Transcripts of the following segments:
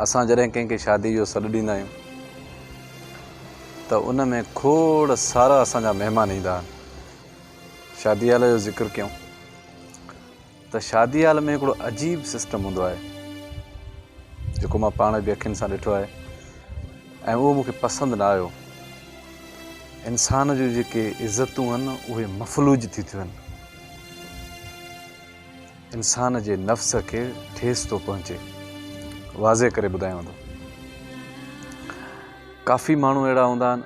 اسان جڏهن ڪنهن کي شاديء جو سڏ ڏيندا آهيون ته ان ۾ کوڙ سارا اسان جا مهمان ايندا آهن. شادي هال جو ذڪر ڪيون ته شادي هال ۾ هڪڙو عجيب سسٽم هوندو آهي جيڪو مان پاڻ به اکين سان ڏٺو آهي ۽ اهو مونکي پسند نه آيو انسان جون جيڪي عزتون آهن اهي مفلوج ٿي ٿيون آهن. انسان جي نفس کي ٺيس ٿو پهچي واضح ڪري ٻڌايو ٿو ڪافي ماڻهو اهڙا هوندا آهن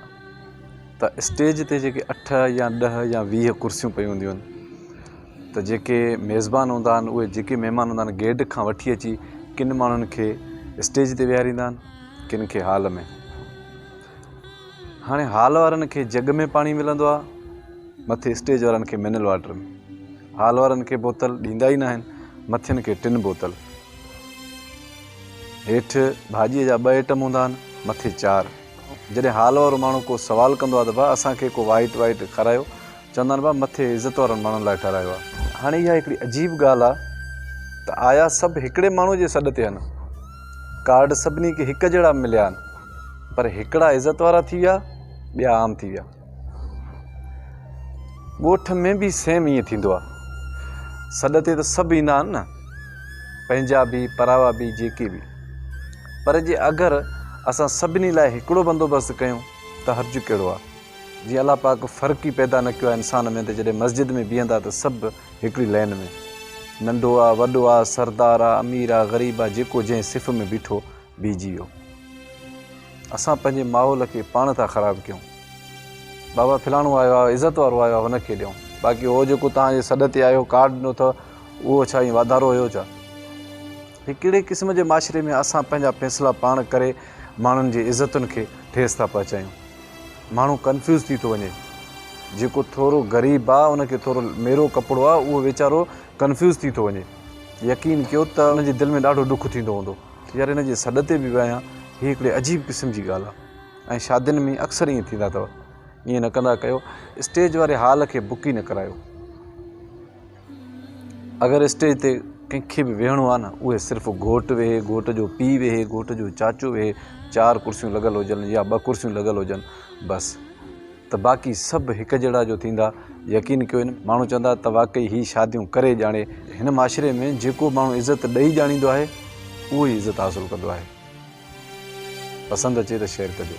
ته اسٽيج تي جيڪي اٺ يا ڏه يا ويهه ڪرسيون پيون هونديون آهن ته جيڪي ميزبان هوندا آهن اهي جيڪي مهمان هوندا آهن گيڊ کان وٺي اچي ڪن ماڻهن کي اسٽيج تي ويهاريندا آهن ڪن کي هال ۾ هاڻي هال وارن کي جڳ ۾ پاڻي ملندو آهي مٿي اسٽيج وارن کي منرل واٽر ۾ هال وارن کي بوتل ڏيندا ئي ناهن مٿين کي ٽن بوتل هيٺ ڀاڄيء جا ٻه آئٽم هوندا آهن مٿي چار جڏهن هال وارو ماڻهو ڪو سوال ڪندو آهي ته ڀا اسان کي ڪو وائٽ وائٽ کارايو چوندا آهن بابا مٿي عزت وارن ماڻهن لاء ٺهرايو آهي. هاڻي اها هڪڙي عجيب ڳالهه آهي ته آيا سڀ هڪڙي ماڻهوء جي سڏ تي آهن؟ ڪارڊ سڀني کي هڪ جهڙا مليا آهن پر هڪڙا عزت وارا ٿي ويا ٻيا عام ٿي ويا. ڳوٺ ۾ به سيم ائين ٿيندو آهي. سڏ تي ته سڀ ايندا آهن نه پنهنجا به پراوا به جيڪي به پر جي اگر اسان سڀني لاء هڪڙو بندوبست ڪيون ته حرج ڪهڙو آهي. جي الله پاڪ فرق ئي پيدا نه ڪيو آهي انسان ۾ ته جڏهن مسجد ۾ بيهندا ته سڀ هڪڙي لين ۾. ننڍو آ، وڏو آ، سردار آ، امير آ، غريب آ، جيڪو جنهن صف ۾ بيٺو، بيهجي ويو. اسان پنهنجي ماحول کي پاڻ ٿا خراب ڪيون. بابا ڦلاڻو آيو آ، عزت وارو آيو آ، هن کي ڏيون. باقي هو جيڪو توهان جي سڏ تي آيو، ڪارڊ ڏنو اٿئو، اهو ڇا ائين واڌارو هيو ڇا؟ هي ڪهڙي قسم جي معاشري ۾ اسان پنهنجا فيصلا پاڻ ڪري ماڻهن جي عزتن کي ٺيس ٿا پهچايون. ماڻهو ڪنفيوز ٿي ٿو وڃي جيڪو ٿورو غريب آ ان کي ٿورو ميرو ڪپڙو آ اهو ويچارو ڪنفيوز ٿي ٿو وڃي يقين ڪيو ته ان جي دل ۾ ڏاڍو ڏک ٿيندو هوندو يار هن جي سڏ تي به ويان هي هڪڙي عجيب قسم جي ڳالهه آ ۽ شادين ۾ اڪثر ائين ٿيندا اٿو ائين نه ڪندا ڪيو اسٽيج واري هال کي بڪ ئي نه ڪرايو. اگر اسٽيج تي ڪنهن کي به ويهڻو آهي نه اهي صرف گهوٽ ويهي گهوٽ جو پي ويهي گهوٽ جو چاچو ويهي چار ڪرسيون لڳل هجن يا ٻه ڪرسيون لڳل هجن بس ته باقي سڀ هڪ جهڙا جو ٿيندا يقين ڪيو ماڻهو چوندا ته واقعي هي شاديون ڪري ڄاڻي هن معاشري ۾ جيڪو ماڻهو عزت ڏئي ڄاڻيندو آهي اهو ئي عزت حاصل ڪندو آهي پسند اچي ته شيئر ڪجو.